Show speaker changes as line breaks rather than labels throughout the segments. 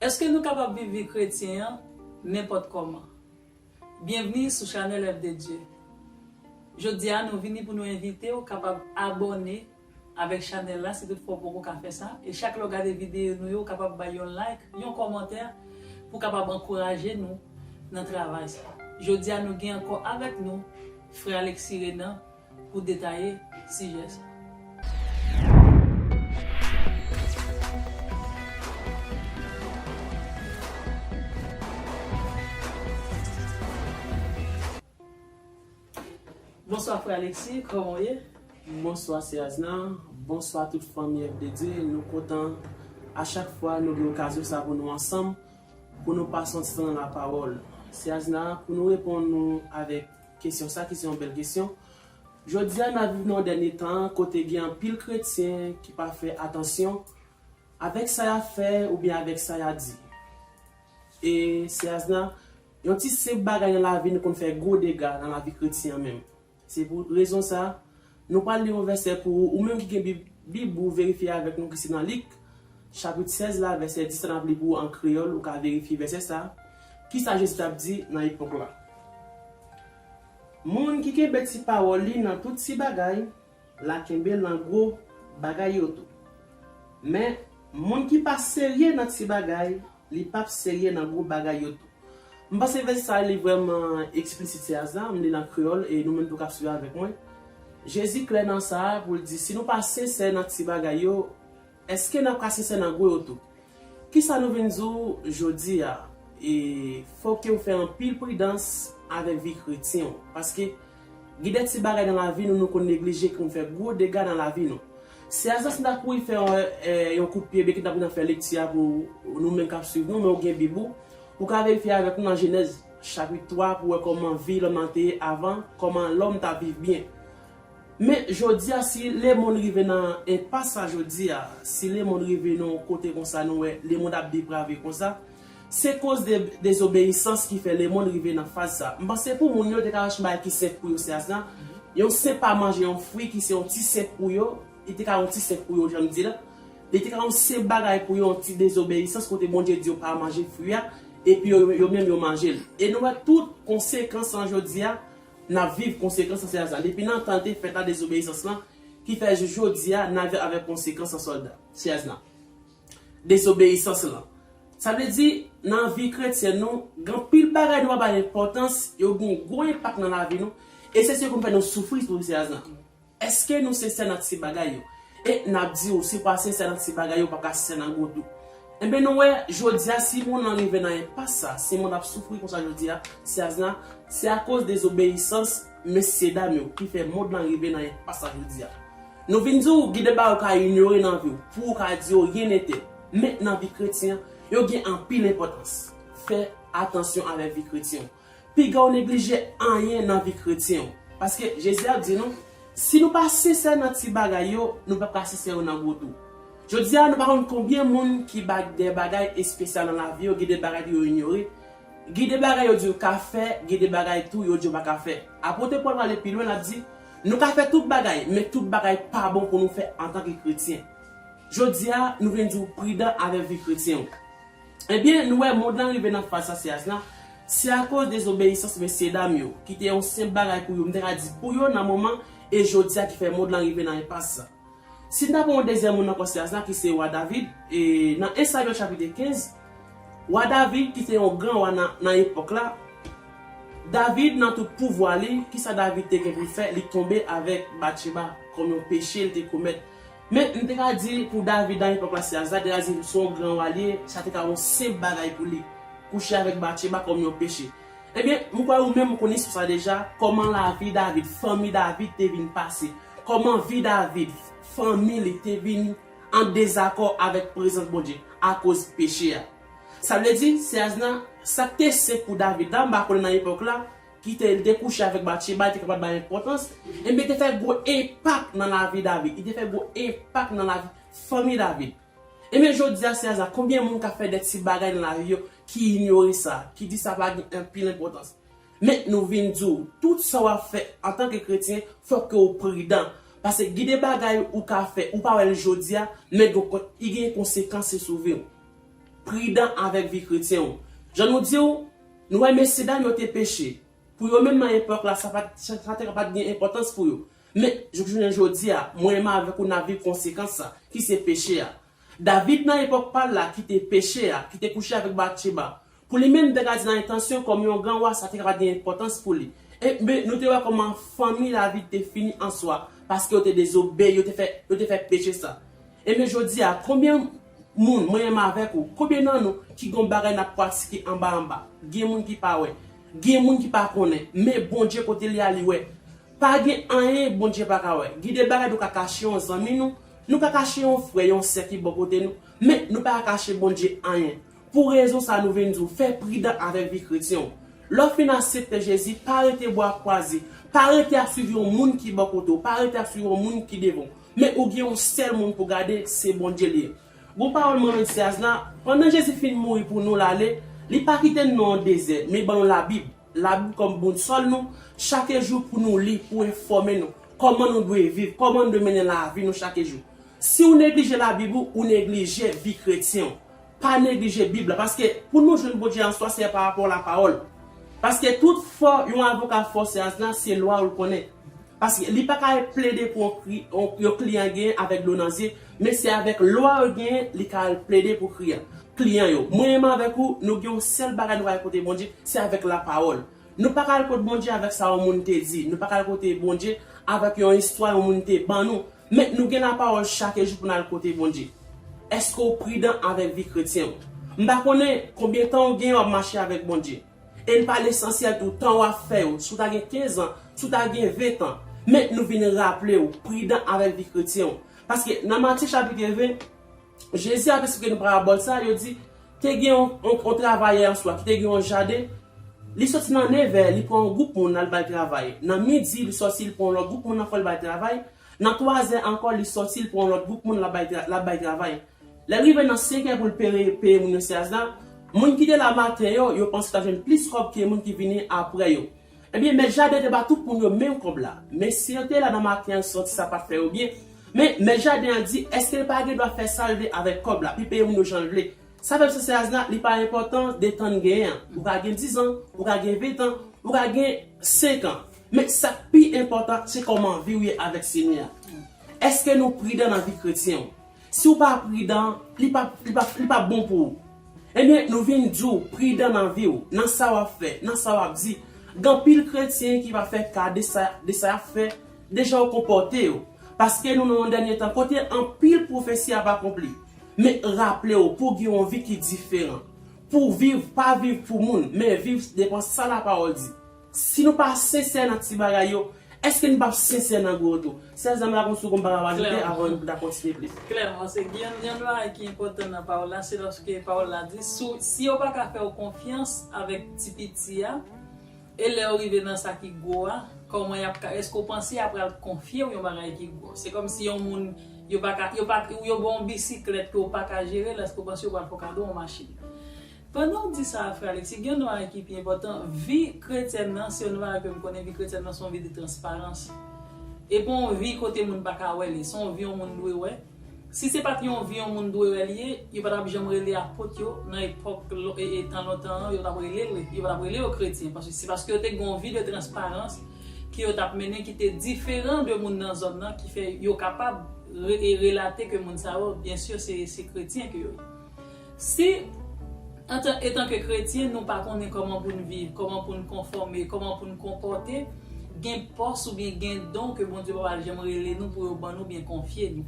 Èske nou kapab viv vi kretyen an nenpòt kòman? Byenvni sou chanèl Èv de Dye! Jodi a nou vini pou nou envite w kapab abòne avèk chanèl la si tout fwa w poko ka fè sa e chak lè w gade videyo nou yo w kapab bay yon like, yon kòmantè pou kapab ankouraje nou nan travay sa. Jodi a nou gen ankò avèk nou frè Alexis Renan pou detaye sijè sa. Bonswa frè Alexis, kòman w ye? Bonswa sè
Asna, bonswa tout fanmi FDD, nou kontan a chak fwa nou gen okazyon sa pou nou ansanm, pou nou pa sòti san lapawòl. Sè Asna, pou nou reponn ou avèk Kesyon sa ki se yon bèl kesyon. Jodi a n ap viv nan yon dènye tan kote gen anpil kretyen ki pa fè atansyon avèk sa y ap fè oubyen avèk sa y ap di. E, Sè Asna, yon ti senp bagay nan lavi nou konn fè gwo dega nan lavi kretyen an menm. Se pou rezon sa, Nou pral li yon vèsè pou ou, ou menm ki gen bib bib ou verifye avèk nou ki se nan lik chapit 16 la vèsè 10 la nap li pou ou an kreyòl ou ka verifye vèsè sa kisa jezi tap di nan epòk la moun ki kenbe ti pawòl li nan tout ti bagay la kenbe l nan gwo bagay yo tou men moun ki pa serye nan ti bagay Li pap serye nan gwo bagay yo tou. M panse vès sa li vrèman eksplisit se aza, m li l an kreyòl e nou menm tou k ap swiv avèk mwen. Jezi klè nan sa a pou l di si nou pa sensè nan ti bagay yo, èske n ap ka sensè nan gwo yo tou? Kisa nou vin di w jodi a? E fòk ke w fè anpil pridans avèk vi kretyen w. Paske. Gen de ti bagay nan lavi nou nou konn neglije ki konn fè gwo dega nan lavi nou. Se aza si n ta kouri fè yon kout pye byen ki n ta pral fè lekti a pou nou menm k ap suiv nou men ou gen Bib ou, ou ka verifye avèk nou nan Jenèz chapit 3 pou wè kòman vi lòm nan te ye avan, kòman lòm t ap viv byen. Men, jodi a, si lemonn rive nan enpas sa jodi a, si lemonn rive nan yon kote konsa nou wè lemonn ap deprave konsa, Se koz de dezobeyisans ki fè lemond rive nan faz sa. M panse pou moun yo te ka chèche yon bagay ki senp pou yo se asna, yon sen pa manje yon fwi ki se yon ti senp pou yo, li te ka yon ti senp pou yo janm di la, li te ka yon senp bagay pou yo yon ti dezobeyisans kote Bondye di yo pa manje fwi a epi yo yo menm yo manje l. E nou wè tout konsekans lan jodi a, n ap viv konsekans lan se asna. Depi nan tan l te fèt la dezobeyisans lan ki fè jis jodi a n ap viv avèk konsekans lan sòlda, se asna. Desobeyisans lan. Sa vle di, nan vi kretyèn nou, gen anpil bagay nou pa bay enpòtans, yo gen yon gwo enpak nan lavi nou, e se sa ki konn fè nou soufri sou Seyas lan. Èske nou sensè nan ti bagay yo? E, n ap di ou, si w pa sensè nan ti bagay yo, ou pa ka sensè nan gwo tou. Enben nou wè, jodi a, si monn lan rive nan enpas sa, si monn ap soufri konsa jodi a, Seyas lan, se akoz dezobeyisans, Mesye dam yo ki fè mond lan rive nan enpas sa jodia. Nou vin di w gen de bagay ou ka inyore nan vi w pou ou ka di yo ryen nete. Men nan vi kretyen an, yo gen anpil enpòtans. Fè atansyon avèk vi kretyen w. Piga w neglije anyen nan vi kretyen w. Paske Jezi ap di nou, si nou pa sensè nan ti bagay yo, nou pap ka sensè yo nan gwo tou. Jodia nou pa konn konbyen moun ki bak de bagay espesyal nan lavi yo, gen de bagay ke yo inyore, Gen de bagay yo di yo ka fè, gen de bagay tou yo di yo pa ka fè. Apote Pòl prale pi lwen, l ap di, Nou ka fè tout bagay, men tout bagay pa bon pou nou fè antanke kretyen. Jodi a, nou vin di w pridan avèk vi kretyen w. Ebyen, nou wè mond lan rive nan faz sa se as la, se akoz dezobeyisans mesyedam yo, ki te yon senp bagay pou yo, m ta ka di pou yo nan moman, e jodi a ki fè mond lan rive nan enpas sa. Si ta gen yon dezyèm moun nan konsyans la ki se wa David, e nan 1 Samyèl chapit 15, wa David ki te yon gran wa nan epòk la, David nan tout pouvwa li, ki sa David te gen pou l fè, li tonbe avèk Batcheba kòm yon peche li te komèt. Men, nou te ka di pou David nan epòk la se Azra, te ka di se yon gran wa li ye, sa te ka yon senp bagay pou li, kouche avèk Batcheba kòm yon peche. Ebyen, m kwè ou menm ou konn istwa sa deja, kòman lavi David, fanmi David te vin pase. Kòman vi David, fanmi li te vin an dezakò avèk prezans Bondye akoz peche a? Sa vle di, sè Asna, sa k te sen pou David la, m pa konnen nan epòk la, ki te li te kouche avèk Batcheba, li te kapab bay enpòtans, enben te fè gwo enpak nan lavi David, li te fè gwo enpak nan lavi fanmi David. Enben jodi a, sè Asna, konbyen moun k ap fè de ti bagay nan lavi yo ki inyore sa, ki di sa pa gen anpil enpòtans? Men nou vin di w, tout sa w ap fè antanke kretyen fòk ke w pridan, paske gen de bagay ou ka fè ou pa wè l jodi a, men gen kon y gen konsekans yo sou vi w. Pridan avèk vi kretyen w. Jan nou di w, nou wè mesye dam yo te peche, pou yo menm nan epòk la sa pat sa te ka pat gen enpòtans pou yo, men jouk jounen jodi a mwen menm avèk ou n ap viv konsekans sa, ki se peche a. David nan epòk pa l la ki te peche a, ki te kouche avèk Batcheba, pou li menm degadi nan entansyon kòm yon gran wa sa te ka pa t gen enpòtans pou li. Enben, nou te wè kòman fanmi David te fini an swa paske yo te dezobeyi, yo te fè, yo te fè peche sa. Enben jodi a, konbyen moun, mwen menm avèk ou, konbyen nan nou ki gen yon bagay n ap pratike anba anba? Gen moun ki pa wè. Gen moun ki pa konnen. Men, Bondye kote l ye a, li wè. Pa gen anyen Bondye pa ka wè. Gen de bagay nou ka kache yon zanmi nou, Nou ka kache yon frè, yon sè ki bò kote nou, men nou pa ka kache Bondye anyen. Pou rezon sa nou vin di w, fè pridan avèk vi kretyen w. Lè w fin asepte Jezi, pa rete bwa kwaze, pa rete ap swiv yon moun ki bò kote w, pa rete ap swiv yon moun ki devan w, men ou gen yon sèl moun pou w gade, se Bondye l ye. Gwo pawòl Manno Dyaz la, pandan Jezi fin mouri pou nou l ale, li pa kite n nan yon dezè, men ban nou labib. Labib kòm bounsòl nou chake jou pou nou li pou enfòme nou kòman nou dwe viv, kòman nou dwe mennen lavi nou chake jou. Si ou neglije labib ou, ou neglije vi kretyen ou. Pa neglije bib la paske pou nou jwenn Bondye answa se pa rapò lapawòl. Paske tout fò yon avoka fò se asna se lwa ou l konnen. Paske li pa ka al plede pou yon kli an gen avèk dlo nan zye, men se avèk lwa an gen li ka al plede pou kri an. Kli an yo, mwen menm avèk ou, nou gen yon sèl bagay nou ka al kote Bondye, se avèk lapawòl. Nou pa ka al kot Bondye avèk sa yon moun te di, nou pa ka al kote Bondye avèk yon istwa yon moun te ban nou, men nou gen lapawòl chake jou pou n al kote Bondye. Eske w pridan avèk vi kretyen w? M pa konnen konbyen tan w gen w ap mache avèk Bondye. E n pa lesansyèl tou tan w ap fè yo, si w ta gen kenzan, si w ta gen ventan, men nou vin raple w, pridan avèk vi kretyen w. Paske nan Matye chapit 20, Jezi ap esplike nan parabòl sa, yo di, te gen yon travayè yon swa ki te gen yon jaden, li soti nan nevè li pran yon gwoup moun al bay travay, nan midi li soti li pran yon lòt gwoup moun ankò li bay travay, Nan twazè ankò li sòti l pran yon lòt gwoup moun l ap bay travay. Lè l rive nan senkè pou l peye moun yo seans la, moun ki te la maten yo, yo panse yo t ap jwenn plis kòb ke moun ki vini aprè yo. Ebyen mèt jaden te ba tout moun yo menm kòb la. Mesye yo te la nan maten an santi sa pat fè yo byen. Men mèt jaden an di èske l pa gen dwa fè sa l vle avèk kòb la, pi peye moun yo jan l vle. Sa fè msye seans la li pa enpòtan de tan n genyen an. Ou ka gen dizan, ou ka gen ventan, ou ka gen senkan. Men, sa k pi enpòtan, se kòman vi w ye avèk Senyè a. Èske nou pridan nan vi kretyen w? Si w pa pridan, li pa, li pa, li pa bon pou ou. Ebyen, nou vin di w, pridan nan vi w, nan sa w ap fè, nan sa w ap di. Gen anpil kretyen ki va fè ka de sa, de sa y ap fè, de jan yo konpòte yo. Paske nou nan yon dènye tan kote anpil pwofesi ap akonpli. Men, raple w, pou w gen yon vi ki diferan. Pou w viv, pa viv pou moun, men viv depan sa Lapawòl di. Si nou pa sensè nan ti bagay yo, èske nou pap sensè nan gwo tou? Sè Zam la gon sou konpa papa Lite avan nou ta kontinye plis. Klèman, se gen yon
bagay ki enpòtan nan pawòl la, se lòske pawòl la di, si yo pa ka fè ou konfyans avèk ti piti a, e lè ou rive nan sa ki gwo a, kòman y ap ka, èske ou panse y ap pral konfye ou yon bagay ki gwo? Se kòm si yon moun, yo pa ka, yo pa, yo ba w yon bisiklèt ke ou pa ka jere l, èske ou panse yo pral fè w kado yon machin? Pandan w di sa a frè Alexis, gen yon nware ki pi enpòtan, vi kretyèn nan se yon nware ke m konnen, vi kretyèn nan se yon vi de transparans. E pa yon vi kote moun pa ka wè li, se yon vi yon moun dwe wè. Si se pa t yon vi yon moun dwe wè li ye, yo pa t ap janm rele apot yo nan epòk tan lontan an, yo t ap rele l, yo pa t ap rele yo kretyen. Paske se paske yo te gen yon vi de transparans ke yo t ap mennen ki te diferan de moun nan zòn nan ki fè yo kapab relate ke moun sa yo byen sur se kretyen ke yo ye. Si, antan etanke kretyen, nou pa konnen kòman pou n viv, kòman pou n konfòme, kòman pou n konpòte, gen pòs oubyen gen don ke Bondye pa pral janm rele nou pou yo ban nou oubyen konfye nou.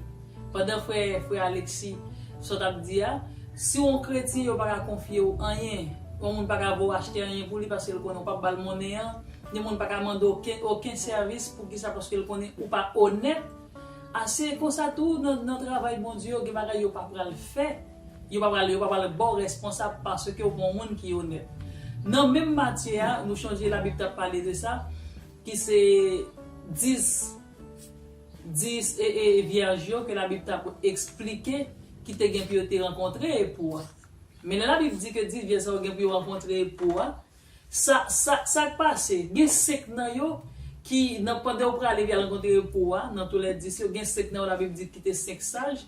Pandan frè, frè Alexis, sa w t ap di a, si w on kretyen yo pa ka konfye w anyen, on moun pa ka voye w achte anyen pou li paske l konnen w p ap ba l monnen an, yon moun pa ka mande w oken, oken sèvis, poukisa paske l konnen ou pa onèt, Ah se konsa tou nan nan travay Bondye yo gen bagay yo pa pral fè yo pa pral yo pa pral baw responsab paske ou pa yon moun ki onèt nan menm matye a nou chanje labib tap pale de sa ki se 10 10 ee vyèj yo ke labib tap esplike ki te gen pou yo te rankontre epou a men lè labib di ke 10 vyèj sa yo gen pou yo rankontre epou a Sa sa sak pase? Gen 5 nan yo ki nan pandan yo prale via rankontre repo a, nan tou lè 10 yo, gen 5 nan yo labib di ki te 5 saj,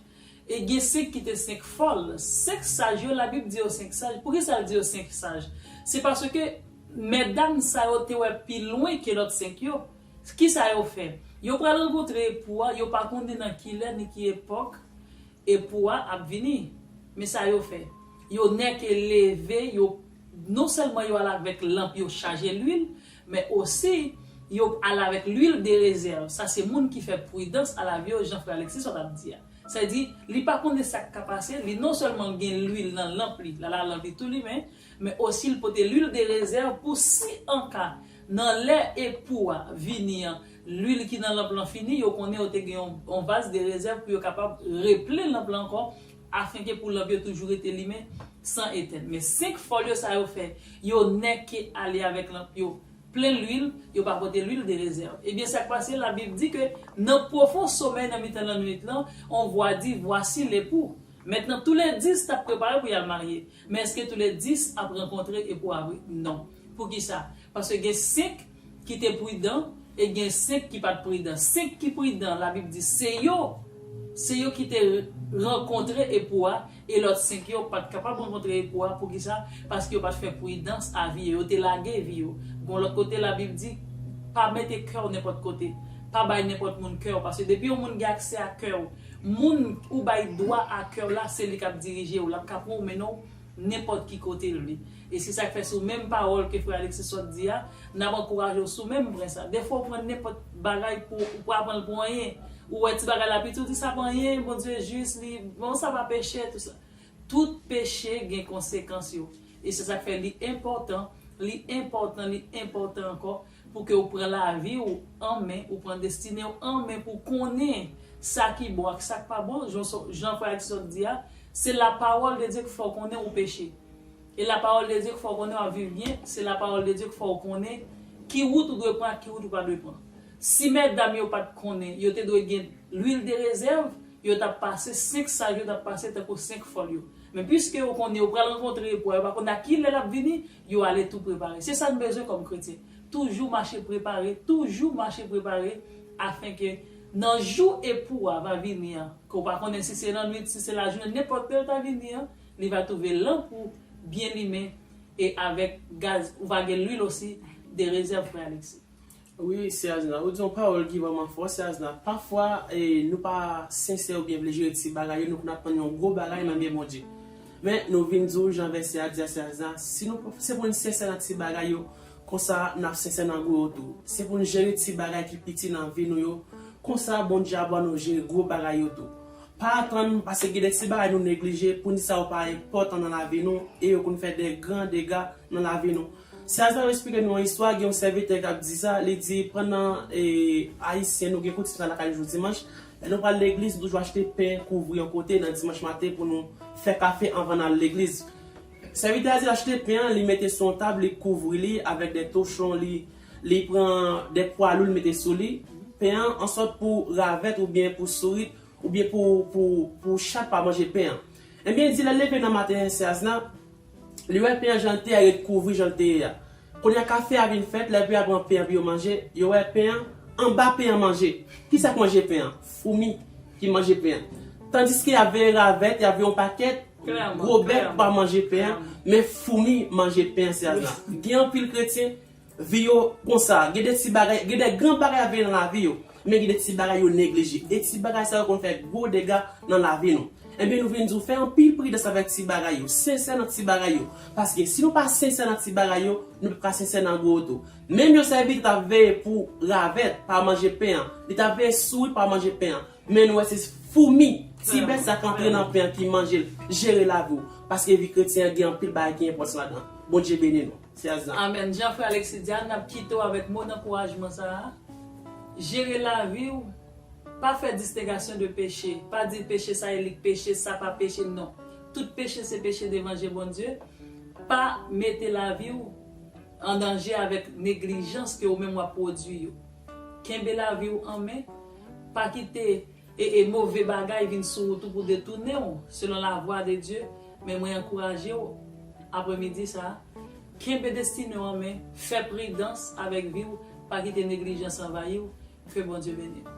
e gen 5 ki te 5 fòl. 5 saj yo labib di yo 5 saj, poukisa l di yo 5 saj? Se paske mètdam sa yo te wè pi lwen ke lòt 5 yo. Kisa yo fè? Yo pral rankontre epo a, yo pa konnen nan ki lè ni ki epòk epo a ap vini. Men sa yo fè, yo nèke leve, yo. Non sèlman yo al avèk lanp yo chaje lwil, men osi yo al avèk lwil de rezèv. Sa se moun ki fè pridans al avyon jan frè Alexis sot ap di a. Sèdi, li pa konnen sa k ka pase, li non sèlman gen lwil nan lanp li, la lalanp li tou limen, men osi l pote lwil de rezèv pou si an ka, nan lè epou a vini an, lwil ki nan lanp lan fini, yo konnen yo te gen yon vas de rezèv pou yo kapab replen lanp lan ankò afenke pou lanp yo toujou rete limen san etèn. Men 5 folyo sa yo fè yo nèke ale avèk lanp yo plen lwil, yo pa pote lwil de rezèv. Ebyen sa k pase? Labib di ke nan pwofon somèy nan mitan lannwit lan, on vwa di, Vwasi lepou. Mentnan toule dis t ap prepare pou y al marye. Men èske toule dis ap rankontre epou a vre? Non. Poukisa? Paske gen 5. ki te pridan e gen senk ki pat pridan. Senk ki pridan, Labib di se yo, se yo ki te rankontre Epou a, e lòt senk yo pat kapab rankontre Epou a. Poukisa? Paske yo pat fè pridans a vi yo, yo te lage vi yo. Gon lòt kote Labib di, Pa mete kè w nenpòt kote, pa bay nenpòt moun kè w, paske depi yon moun gen aksè a kè w, moun ou bay dwa a kè w la, se li k ap dirije w, l ap ka pou w mennen w. nenpòt ki kote l vle. E se sa k fè sou menm pawòl ke frè Alexis sot di a, n ap ankouraje w sou menm pwen sa. Defwa w pran nenpòt bagay pou ou pa pran l pou anyen. Ou wè ti bagay la piti, ou di sa pa anyen, Bondye jis, li, bon sa pa peche, tou sa. Tout peche gen konsekans yo. E se sa k fè li enpòtan, li enpòtan, li enpòtan ankò. Pou ke ou pran lavi ou an men, ou pran destine ou an men pou ou konnen sa ki bon ak sa k pa bon, jan frè Alexis sot di a, se lapawòl de Dye k fè w konnen ou peche. E lapawòl de Dye k fè w konnen w ap viv byen, se lapawòl de Dye k fè w konnen ki wout ou dwe pran ak ki wout ou pa dwe pran. Si mètdam yo pa t konnen, yo te dwe gen lwil de rezèv, yo t ap pase, 5 saj yo t ap pase tankou 5 fòl yo. Men piske yo konnen yo pral rankontre epou a, yo pa konnen a ki lè l ap vini, Yo ale tou prepare. Se sa n bezwen kòm kretyen. Toujou mache prepare, toujou mache prepare afen ke nan jou epou a va vini an, ke w pa konnen si se lannwit, si se lajounen, nenpòt lè l ta vini an, li va twouve lanp ou byen limen e avèk gaz, ou va gen lwil osi, de rezèv frè Alexis. Wi sè
azna ou di yon pawòl ki vrèman fò sè azna pafwa nou pa sensè oubyen vle jere ti bagay yo nou konn aprann yon gwo bagay nan men Bondye men nou vin di w jan vèsè a di a sè azna si nou pa se pou n sensè nan ti bagay yo konsa nap sensè nan gwo yo tou se pou n jere ti bagay ki piti nan vi nou yo konsa Bondye ap ba nou jere gwo bagay yo tou pa atann paske gen de ti bagay nou neglije pou n di sa yo pa enpòtan nan lavi nou e yo konn fè de gran dega nan lavi nou. Sa sa yo esplike nou an istwa, gen yon sèvitè k ap di sa, li di pandan Ayisyen nou gen koutim sa lakay nou jou dimanch, lè nou pral legliz nou toujou achte pen kouvri yon kote nan dimanch maten pou nou fè kafe anvan n al legliz. Sèvitè a di l achte pen an li mete sou yon tab li kouvri li avèk de tochon li li pran de pwa lou li mete sou li pen an ansòt pou ravèt oubyen pou sourit oubyen pou pou chat pa manje pen an. Ebyen di lè l leve nan maten sè a zna Li wè pen an jan l te ye a ret kouvri jan l te ye a. Kounye a kafe a vin fèt, lèvè a pran pen an pou yo manje, yo wè pen an, anba pen an manje. Ki sa k manje pen an? Foumi ki manje pen an. Tandiske y ap veye ravèt, y ap veye yon pakèt gwo bèt pou pa manje pen an, men foumi manje pen an. Gen anpil kretyen. Vi yo konsa, gen de ti bagay, gen de gran bagay ap vini nan lavi yo, men gen de ti bagay yo neglije. E ti bagay sa yo konn fè gwo dega nan lavi nou. Ebyen nou vin di w fè anpil pridans avèk ti bagay yo, sensè nan ti bagay yo. Paske si nou pa sensè nan ti bagay yo, nou pap ka sensè nan gwo yo tou. Menm yon sèvitè t ap veye pou ravèt pa manje pen an, li t ap veye sourit pa manje pen an, men nou wè se foumi, ti bèt sa k antre nan pen an ki manje l. Jere lavi w, paske vi kretyen an gen anpil bagay ki enpòtan ladan l. Bondye beni nou. 16 ans. Amen jan frè Alexis
di a nap kite w avèk mo dankourajman sa a, jere lavi w pa fè distengasyon de peche, pa di peche sa e li k peche sa pa peche non, tout peche se peche devan je Bondye, pa mete lavi w an danje avèk neglijans ke ou menm wap pwodwi yo. Kenbe lavi w an men, pa kite. E e move bagay vin sou ou tou pou detounen ou, selon lavwa de Dye, men mwen ankouraje ou, apre midi sa a, kenbe destine ou an men, fè pridans avèk vi ou, pa kite neglijans anvayi ou, ke Bondye beni ou.